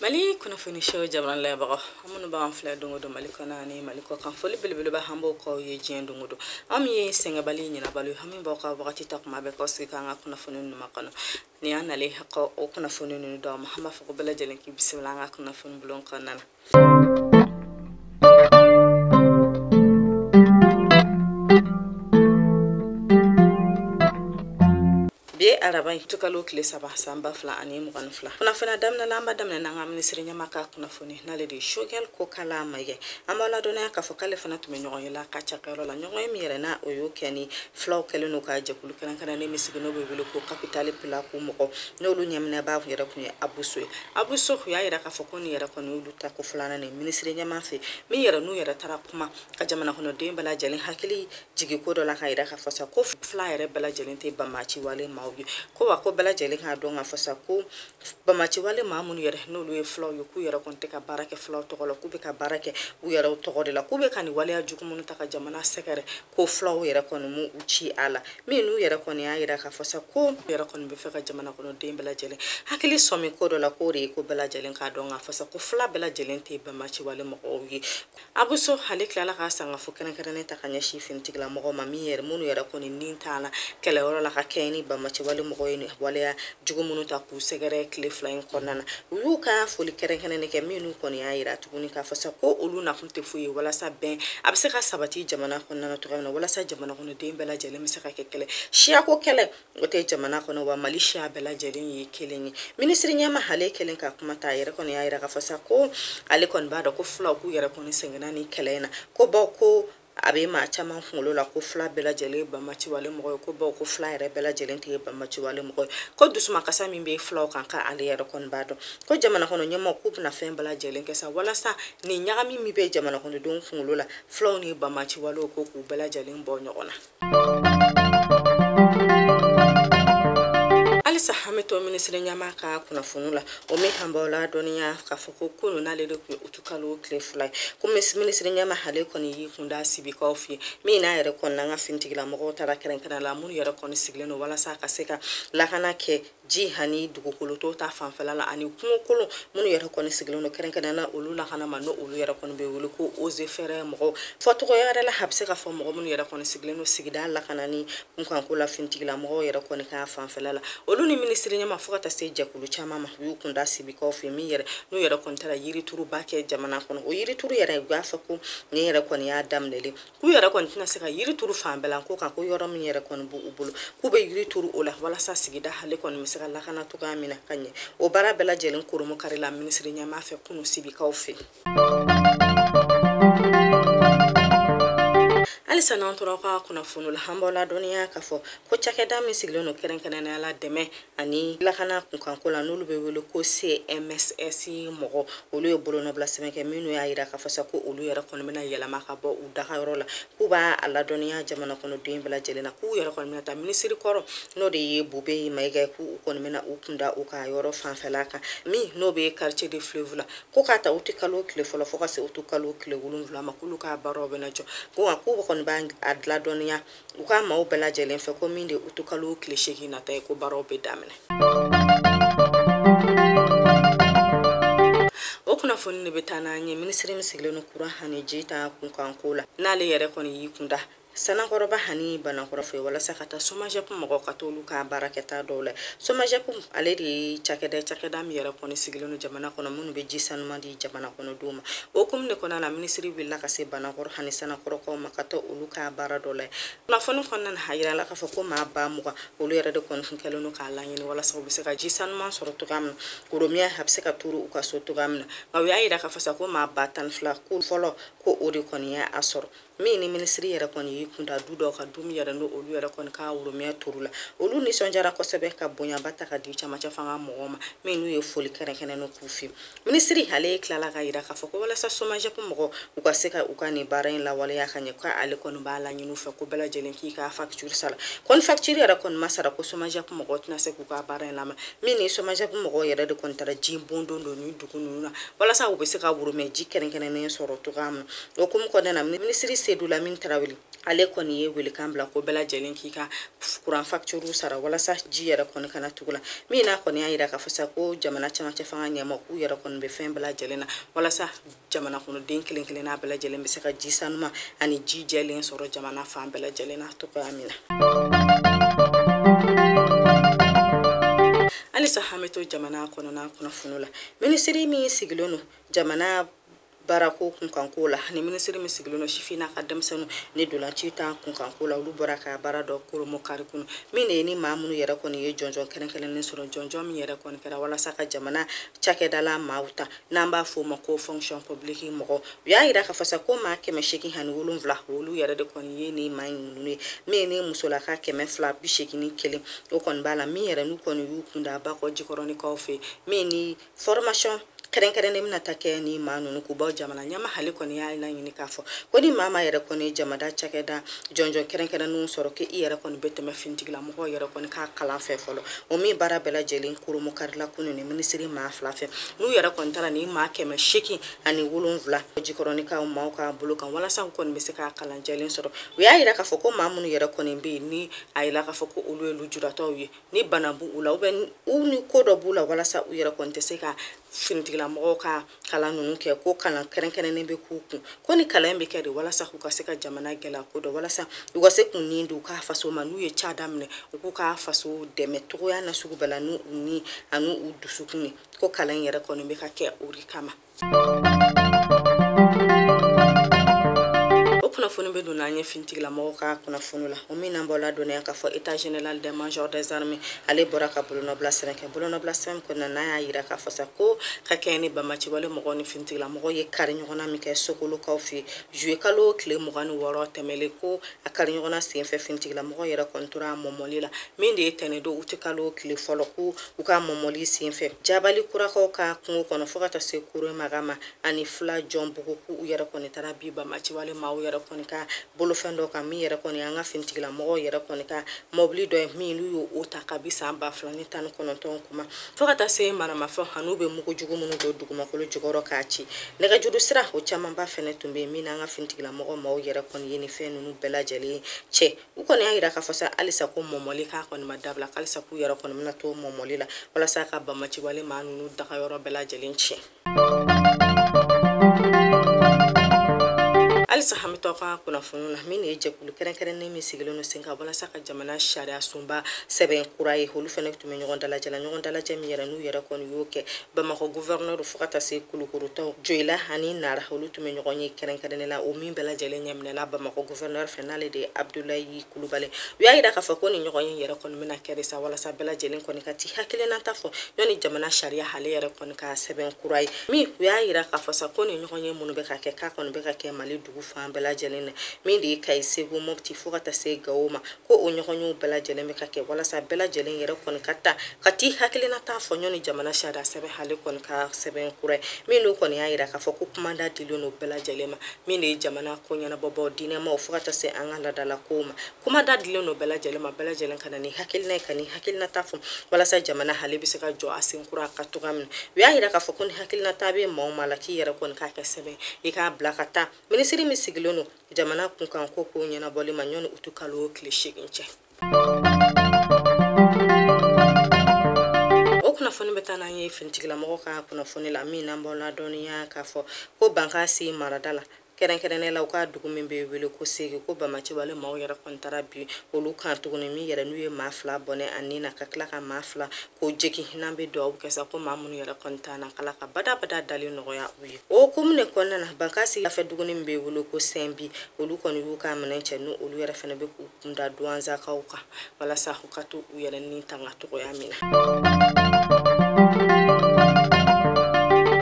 mali kunnafoni show jabaranin lajɛbagaw aw minnu b'an filɛ don o don mali kɔnɔ ani mali kɔkan foli belebeleba an b'o k'aw ye diɲɛ don o don aw min ye sɛgɛnbali ɲinɛbali ye aw min b'aw ka wagati ta kuma bɛɛ k'aw sigi k'an ka kunnafoni ninnu makɔnɔ ni an nalen kɔ o kunnafoni ninnu dɔ ma an b'a fɔ ko bɛɛ lajɛlen k'i bisimila an ka kunnafoni bulon kɔnɔna bi araba utikalo tile saba san ba fila ani mugan ni fila kunnafoni in daminɛ la an b'a daminɛ n'an ka minisiri ɲɛmaa ka kunnafoni n'ale de ye choguel kokalla maïga an b'aw ladɔnniya k'a fɔ k'ale fana tun bɛ ɲɔgɔnye la a ka cakɛyɔrɔ la ɲɔgɔnye min yɛrɛ na o y'o kɛ ni fulaw kɛlen don ka jɛkulu kɛrɛnkɛrɛnnen min sigi n'o bɛ wele ko tabital pulaaku mɔgɔw n'olu ɲɛminɛbaa kun yɛrɛ kun ye abou sow ye abou sow kun y'a yira k'a fɔ ko nin yɛrɛ kɔni y'olu taako filanan ye minisiri ɲɛmaa fɛ min yɛrɛ n'u yɛrɛ taara kuma ka jamana kɔnɔden bɛɛ lajɛlen hakili jigin ko dɔ la k'a yira k'a fɔ sa ko fula yɛrɛ bɛɛ lajɛlen tɛ banbaanciwale maaw ye ko wa ko bɛɛ lajɛlen k'a dɔn k'a fɔ sa ko banbaanciwale maa minnu yɛrɛ n'olu ye fulaw ye k'u yɛrɛ kɔni tɛ ka baara kɛ fulaw tɔgɔ la k'u bɛ ka baara kɛ u yɛrɛw tɔgɔ de la k'u bɛ ka nin waleya jugu minnu ta ka jamana sɛgɛrɛ ko fulaw yɛrɛ kɔni m'u ci a la min n'u yɛrɛ kɔni y'a yira k'a fɔ sa k'u yɛrɛ kɔni b'a fɛ ka jamana kɔnɔ den bɛɛ lajɛlen hakili sɔmi ko dɔ la k'o de ye ko bɛɛ lajɛlen k'a dɔn k'a fɔ sa ko fula bɛɛ lajɛlen tɛ banbaanciwale mɔgɔw ye abou sow ale tilala ka sangafo kɛrɛnkɛrɛnnen ta ka ɲɛsin finitigila mɔgɔw ma min yɛrɛ minnu yɛrɛ kɔni ni tola kɛlɛyɔrɔ la ka kɛɲɛ ni banbaanciwale mɔgɔw ye waleya jugu minnu ta k'u sɛgɛrɛ tile fila in kɔnɔna na u y'u ka foli kɛrɛnkɛrɛnnen kɛ minnu kɔni y'a yira tuguni k'a fɔ sa ko olu na tɛ foyi ye walasa bɛn a bɛ se ka sabati jamana kɔnɔna na cogoya min na walasa jamana kɔnɔden bɛɛ lajɛlen bɛ se ka kɛ kelen siyako kɛlɛ o tɛ jamana kɔnɔ wa mali siya bɛɛ lajɛlen ye kelen ye minisiri ɲɛmaa ale kɛlen ka kuma ta a yɛrɛ kɔni y'a yira k'a fɔ sa ko ale kɔni b'a dɔn ko fulaw k'u yɛrɛ kɔni sɛgɛnna ni kɛlɛ in na ko bawo ko a bɛ maa caman kunkolo la ko fula bɛɛ lajɛlen ye banbaanciwale mɔgɔ ye ko bawo ko fula yɛrɛ bɛɛ lajɛlen tɛ banbaanciwale mɔgɔ ye ko dusumakasi min bɛ fulaw kan k'ale yɛrɛ kɔni b'a dɔn ko jamana kɔnɔ ɲɛmɔgɔw k'u bɛna fɛn bɛɛ lajɛlen kɛ sa walasa nin ɲagami min bɛ jamana kɔnɔdenw kunkolo la fulaw ni banbaanciwale ko k'u bɛɛ lajɛlen bɔ ɲɔgɔn na halisa an bɛ to minisiri ɲɛmaa ka kunnafoni la o min k'an b'aw ladɔnniya k'a fɔ ko kunun n'ale de tun ye utikalo tile fila ye ko minisiri ɲɛmaa ale kɔni y'i kun da sibikaw fɛ yen min n'a yɛrɛ kɔni n'an ka finitigilamɔgɔw taara kɛrɛnkɛrɛn la minnu yɛrɛ kɔni sigilen don walasa ka se ka lakana kɛ ji ani dugukoloto ta fanfɛla la ani kungokolon minnu yɛrɛ kɔni sigilen don kɛrɛnkɛrɛn na olu lakana ma n'o olu yɛrɛ kɔni bɛ wele ko eaux et forêts mɔgɔw fɔcogoya yɛrɛ la a bɛ se ka fɔ mɔgɔ minnu yɛrɛ kɔni sigilen don sigida lakanani kunkanko la finitigila mɔgɔw yɛrɛ kɔni ka fanfɛla la olu ni minisiri ɲɛmaa fo ka taa se jɛkulu caman ma u y'u kun da sibikaw fɛ min yɛrɛ n'u yɛrɛ kɔni taara yirituruba kɛ jamana kɔnɔ o yirituru yɛrɛ u y'a fɔ ko nin yɛrɛ kɔni y'a daminɛlen k'u yɛrɛ kɔni tɛna se ka yiri turu fan bɛɛ la ko nka ko yɔrɔ min yɛrɛ kɔni b'u bolo k'u bɛ yiri turu o la walasa sigida ale kɔni bɛ se ka lakana cogoya min na ka ɲɛ o baara bɛɛ lajɛlen kurunbonkarila minisiri ɲɛmaa fɛ kunu sibikaw fɛ halisa n'an tora ka kunnafoni la an b'aw ladɔnniya k'a fɔ ko cakɛda min sigilen don kɛrɛnkɛrɛnnenya la dɛmɛ ani lakana kunkanko la n'olu bɛ wele ko cmss mɔgɔ olu ye bolonɔbila sɛbɛn kɛ min n'u y'a yira k'a fɔ sa ko olu yɛrɛ kɔni bɛna yɛlɛma ka bɔ u dagayɔrɔ la k'u b'a a ladɔnniya jamana kɔnɔden bɛɛ lajɛlen na k'u yɛrɛ kɔni bɛna taa minisiri kɔrɔ n'o de ye bubɛyi mayiga ye k'u kɔni bɛna u kunda u ka yɔrɔ fanfɛla kan min n'o bɛ quartier de fleuve la ko k'a ta uti kalo tile fɔlɔ fo ka se utu kalo tile wolonwula ma k'olu ka baaraw bɛna jɔ ko nka k'u kɔni b'a a ladɔnniya u ka maaw bɛɛ lajɛlen fɛ ko min de utu kalo tile seegin nata ye ko baaraw bɛ daminɛ o kunnafoni de bɛ taa n'an ye minisiri min sigilen don kuran ani ji ta kunkanko la n'ale yɛrɛ kɔni y'i kunda sanankɔrɔba ani banankɔrɔ fɛ walasa ka taa somajɛp mɔgɔ ka t'olu ka baarakɛta dɔw la somajɛp ale de ye cakɛda cakɛda min yɛrɛ kɔni sigilen don jamana kɔnɔ minnu bɛ ji sanuman di di jamana kɔnɔdenw ma o hukumu de kɔnɔna na minisiri wulila ka se banankɔrɔ ani sanankɔrɔkaw ma ka t'olu ka baara dɔ la kunnafoni kɔnɔna na a yirala k'a fɔ ko maa ba mugan olu yɛrɛ de kɔni tun kɛlen don k'a laɲini walasa u bɛ se ka ji sanuman sɔrɔ cogoya min na ko worobinɛ a bɛ se ka turu u ka so cogoya min na nka u y'a yira k'a fɔ sa ko maa ba tan ni fila ko fɔlɔ ko o de kɔni y'a sɔrɔ min ni minisiri yɛrɛ kɔni y'i kunda du dɔw kan du min yɛrɛ n'o olu yɛrɛ kɔni ka worobinɛ turula olu nisɔndiyara kosɛbɛ ka bonyaba ta k'a di camancɛ fanga mɔgɔw ma min n'u ye foli kɛrɛnkɛrɛnnen k'u fiye minisiri ale tilala k'a yira k'a fɔ ko walasa somajɛpu mɔgɔw ka se ka u ka nin baara in lawaleya ka ɲɛ ko ale kɔni b'a laɲini u fɛ ko bɛɛ lajɛlen k'i ka fakitiri sara ko ni fakitiri yɛrɛ kɔni ma sara ko somajɛpu mɔgɔ tɛna se k'u ka baara in lamɛn min ni somajɛpu mɔgɔ yɛrɛ de kɔni taara ji bon don don ni dugu ninnu na walasa u bɛ se ka worobinɛ ji kɛrɛnkɛrɛnnen sɔrɔ cogoya min o hukumu kɔnɔna na minisiri sedu lamin tarawele ale kɔni ye welekan bila ko bɛɛ lajɛlen k'i ka kuran fakituru sara walasa ji yɛrɛ kɔni kana tigɛ u la min n'a kɔni y'a yira k'a fɔ sa ko jamana camancɛ fanga ɲɛmaa k'u yɛrɛ kɔni bɛ fɛn bɛɛ lajɛlen na walasa jamana kɔnɔden kelen kelen n'a bɛɛ lajɛlen bɛ se ka ji sanuman ani ji jɛlen sɔrɔ jamana fan bɛɛ lajɛlen na cogoya min na halisa an bɛ to jamana kɔnɔna kunnafoni la minisiri min sigilen don jamana baarako kunkanko la ni minisiri min sigilen don sifin n'a ka denmisɛnninw ni ntolaci ta kunkanko la olu bɔra ka baara dɔ kurunbonkari kunu min de ye ni maa minnu yɛrɛ kɔni ye jɔnjɔn kɛrɛnkɛrɛnnen sɔrɔ jɔnjɔn min yɛrɛ kɔni kɛra walasa ka jamana cakɛdala maaw ta n'an b'a fɔ o ma ko fonction publique mɔgɔ u y'a yira k'a fɔ sa ko maa kɛmɛ seegin ani wolonwula olu yɛrɛ de kɔni ye nin maa ninnu ye min ni musolaka kɛmɛ fila bi seegin ni kelen o kɔni b'a la min yɛrɛ n'u kɔni y'u kunda bakɔ jikɔrɔnikaw fɛ min ni formation kɛrɛnkɛrɛnnen bɛna taa kɛ ni maa ninnu kun bawo jamana ɲɛmaa hale kɔni y'a laɲini k'a fɔ ko ni maa ma yɛrɛ kɔni jamana cakɛda jɔnjɔn kɛrɛnkɛrɛnnenw sɔrɔ k'i i yɛrɛ kɔni bɛ tɛmɛ finitigilamɔgɔw yɛrɛ kɔni ka kalan fɛ fɔlɔ o min baara bɛɛ lajɛlen kurunbonkarila kunu ni minisiri maa fila fɛ n'u yɛrɛ kɔni taara ni maa kɛmɛ seegin ani wolonwula jikɔrɔnikaw maaw ka bolo kan walasa u kɔni bɛ se ka kalan jɛlen sɔrɔ u y'a yira k'a fɔ ko maa minnu yɛrɛ kɔni bɛ yen ni a yira k'a fɔ ko olu ye lujuratɔw ye ni bana b'u u la u bɛ u ni ko dɔ b'u la walasa u yɛrɛ kɔni tɛ se ka finitigilamɔgɔw ka kalan ninnu kɛ ko kalan kɛrɛnkɛrɛnnen bɛ k'u kun ko ni kalan bɛ kɛ de walasa k'u ka se ka jamana gɛlɛya ko dɔn walasa u ka se k'u ni di u ka faso ma n'u ye ca daminɛ u k'u ka faso dɛmɛ cogoya nasugu bɛɛ la n'u ni ani u dusukun ye ko kalan in yɛrɛ kɔni bɛ ka kɛ o de kama o kunnafoni bɛ don n'an ye finitigilamɔgɔw ka kunnafoni la o min n'an b'aw ladɔnniya k'a fɔ état général des majors des armées ale bɔra ka bolonɔbila sɛbɛn kɛ bolonɔbila sɛbɛn kɔnɔna n'a y'a yira k'a fɔ sa ko ka kɛɲɛ ni bamaciwale mɔgɔw ni finitigilamɔgɔw ye kari ɲɔgɔnna min kɛ sokolokaw fɛ juye kalo tile mugan ni wɔɔrɔ tɛmɛlen ko a kari ɲɔgɔnna senfɛ finitigilamɔgɔw yɛrɛ kɔni tora a mɔmɔli la min de ye tɛnɛdon utikalo tile fɔlɔ ko u ka mɔmɔli senfɛ jabali kurakaw ka kungo kɔnɔ fɔɔ ka taa se kore maga ma ani fila jɔn bugu k'u u yɛrɛ kɔni taara bin bamaciwale maaw yɛrɛ kɔni ka bolofɛn dɔ kan min yɛrɛ kɔni an ka finitigilamɔgɔw yɛrɛ kɔni ka mɔbili dɔ ye min n'u y'o o ta kabi san ba fila ni tan ni kɔnɔntɔn kuma fɔɔ ka taa se maramafɛn an'u bɛ mugujugu minnu don dugumakolo jukɔrɔ k'a ci nɛgɛjuru sira o camanba fɛnɛ tun bɛ yen min n'an ka finitigilamɔgɔ maaw yɛrɛ kɔni ye ni fɛn nunu bɛɛ lajɛlen cɛ u kɔni y'a yira k'a fɔ sa halisa ko mɔmɔli k'a kɔni ma dabila halisa k'u yɛrɛ kɔni bɛna to mɔmɔli la walasa ka bamaciwale maa ninnu dagayɔrɔ bɛɛ lajɛlen tiɲɛ halisa an bɛ to ka kunnafoniw na min de ye jɛkulu kɛrɛnkɛrɛnnen min sigilen don sen kan walasa ka jamana sariya sunba sɛbɛn kura ye olu fɛnɛ tun bɛ ɲɔgɔn dalajɛ la ɲɔgɔn dalajɛ min yɛrɛ n'u yɛrɛ kɔni y'o kɛ bamakɔ gouverneur fo ka taa se kulukorotaw joyila ani nara olu tun bɛ ɲɔgɔnye kɛrɛnkɛrɛnnen la o min bɛɛ lajɛlen ɲɛminɛla bamakɔ gouverneur fɛ n'ale de ye abdulayi kulubali u y'a yira k'a fɔ ko ni ɲɔgɔnye yɛrɛ kɔni bɛna kɛ de sa walasa bɛɛ lajɛlen kɔni ka t'i hakilinata fɔ ɲɔni jamana sariya hale yɛrɛ kɔni ka sɛbɛn kura ye min u y'a yira k'a fɔ sa ko ni ɲɔgɔnye minnu bɛ ka kɛ k'a kɔni bɛ ka kɛ mali dugu fan bɛɛ lajɛlen na min de ye kayi segu mopti fo ka taa se gawo ma ko o ɲɔgɔnyew bɛɛ lajɛlen bɛ ka kɛ walasa bɛɛ lajɛlen yɛrɛ kɔni ka taa ka t'i hakilinata fɔ ɲɔni jamana sariya sɛbɛn hale kɔni ka sɛbɛn kura ye min n'u kɔni y'a yira k'a fɔ ko kuma da dilen don bɛɛ lajɛlen ma min de ye jamana ko ɲɛnabɔbaaw diinɛmaaw fo ka taa se an ka laadalakow ma kuma da dilen don bɛɛ lajɛlen ma bɛɛ lajɛlen ka na ni hakilina ye ka n'i hakilinata fɔ walasa jamana hale bɛ se ka jɔ a sen kura kan tugun min u y'a yira k'a fɔ ko ni hakilinata bɛ maa o maa la k'i yɛrɛ kɔni k'a kɛ sɛbɛn i k'a bila ka taa minisiri min sigilen don jamana kunkan ko kow ɲɛnabɔli ma ɲɔni uti kalo tile seegin cɛ o kunnafoni bɛ taa n'an ye finitigilamɔgɔ ka kunnafoni la min n'an b'aw ladɔnniya k'a fɔ ko bankasi marada la kɛrɛnkɛrɛnnen la u ka dugu min bɛ wele ko sege ko banbaanciw ale maaw yɛrɛ kɔni taara bin olu kan tuguni min yɛrɛ n'u ye maa fila bɔnɛ a ni na ka tila ka maa fila k'o jogin n'an bɛ dugawu kɛ sa ko maa minnu yɛrɛ kɔni t'an na k'ala ka badabada dalen nɔgɔya u ye o komini kɔnɔna na bankasi yanfɛ duguni min bɛ wele ko sɛn bi olu kɔni y'u ka minɛn cɛ n'u olu yɛrɛ fana bɛ k'u kunda duwanzakaw kan walasa u ka to u yɛrɛ ni tanga togoya min na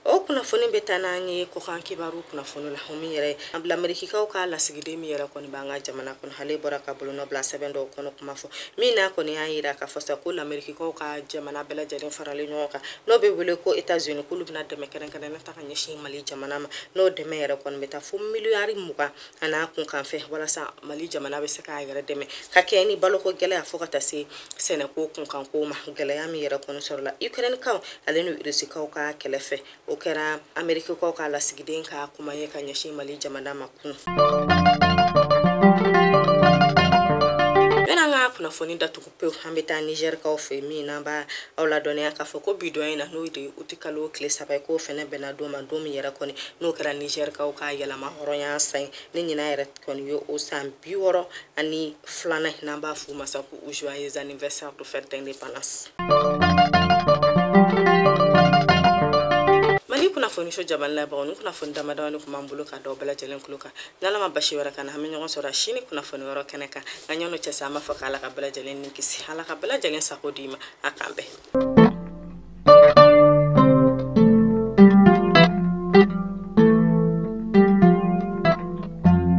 o kunnafoni bɛ taa n'an ye kɔkan kibaru kunnafoni la o min yɛrɛ an bila amerikikaw ka lasigiden min yɛrɛ kɔni b'an ka jamana kɔnɔ ale bɔra ka bolonɔ bila sɛbɛn dɔ kɔnɔ kuma fɔ min n'a kɔni y'a yira k'a fɔ sa ko lamerikikaw ka jamana bɛɛ lajɛlen faralen ɲɔgɔn kan n'o bɛ wele ko etats unis k'olu bɛna dɛmɛ kɛrɛnkɛrɛnnen ta ka ɲɛsin mali jamana ma n'o dɛmɛ yɛrɛ kɔni bɛ taa fo miliyari mugan a n'a kunkanfɛ walasa mali jamana bɛ se k'a yɛrɛ dɛmɛ ka kɛ ni baloko gɛlɛya fo ka taa se sɛnɛko kunkanko ma gɛlɛya min yɛrɛ kɔni sɔrɔla ukrainekaw ale ni rusikaw ka kɛlɛ fɛ o kɛra amerikikaw ka lasigiden ka kuma ye ka ɲɛsin mali jamana ma kun yan'an ka kunnafoni datugu pewu an bɛ taa nizɛrikaw fɛ min n'an b'a aw ladɔnniya k'a fɔ ko bi don in na n'o de ye uti kalo tile saba ye k'o fɛnɛ bɛnna don ma don min yɛrɛ kɔni n'o kɛra nizɛrikaw ka yɛrɛmahɔrɔnya san ye ni ɲinan yɛrɛ kɔni ye o san bi wɔɔrɔ ani filanan n'an b'a f'u ma sa ko u joyeux anniversaire de fête d'indépendance mali kunnafoniso jamana labagaw nin kunnafoni damadamanin kun b'an bolo ka d'aw bɛɛ lajɛlen kulo kan n'ala ma baasi wɛrɛ k'an na an bɛ ɲɔgɔn sɔrɔ sini kunnafoni wɛrɛ kɛnɛ kan nka yan'o cɛ sa an b'a fɔ k'ala ka bɛɛ lajɛlen ni kisi ala ka bɛɛ lajɛlen sago d'i ma a k'an bɛn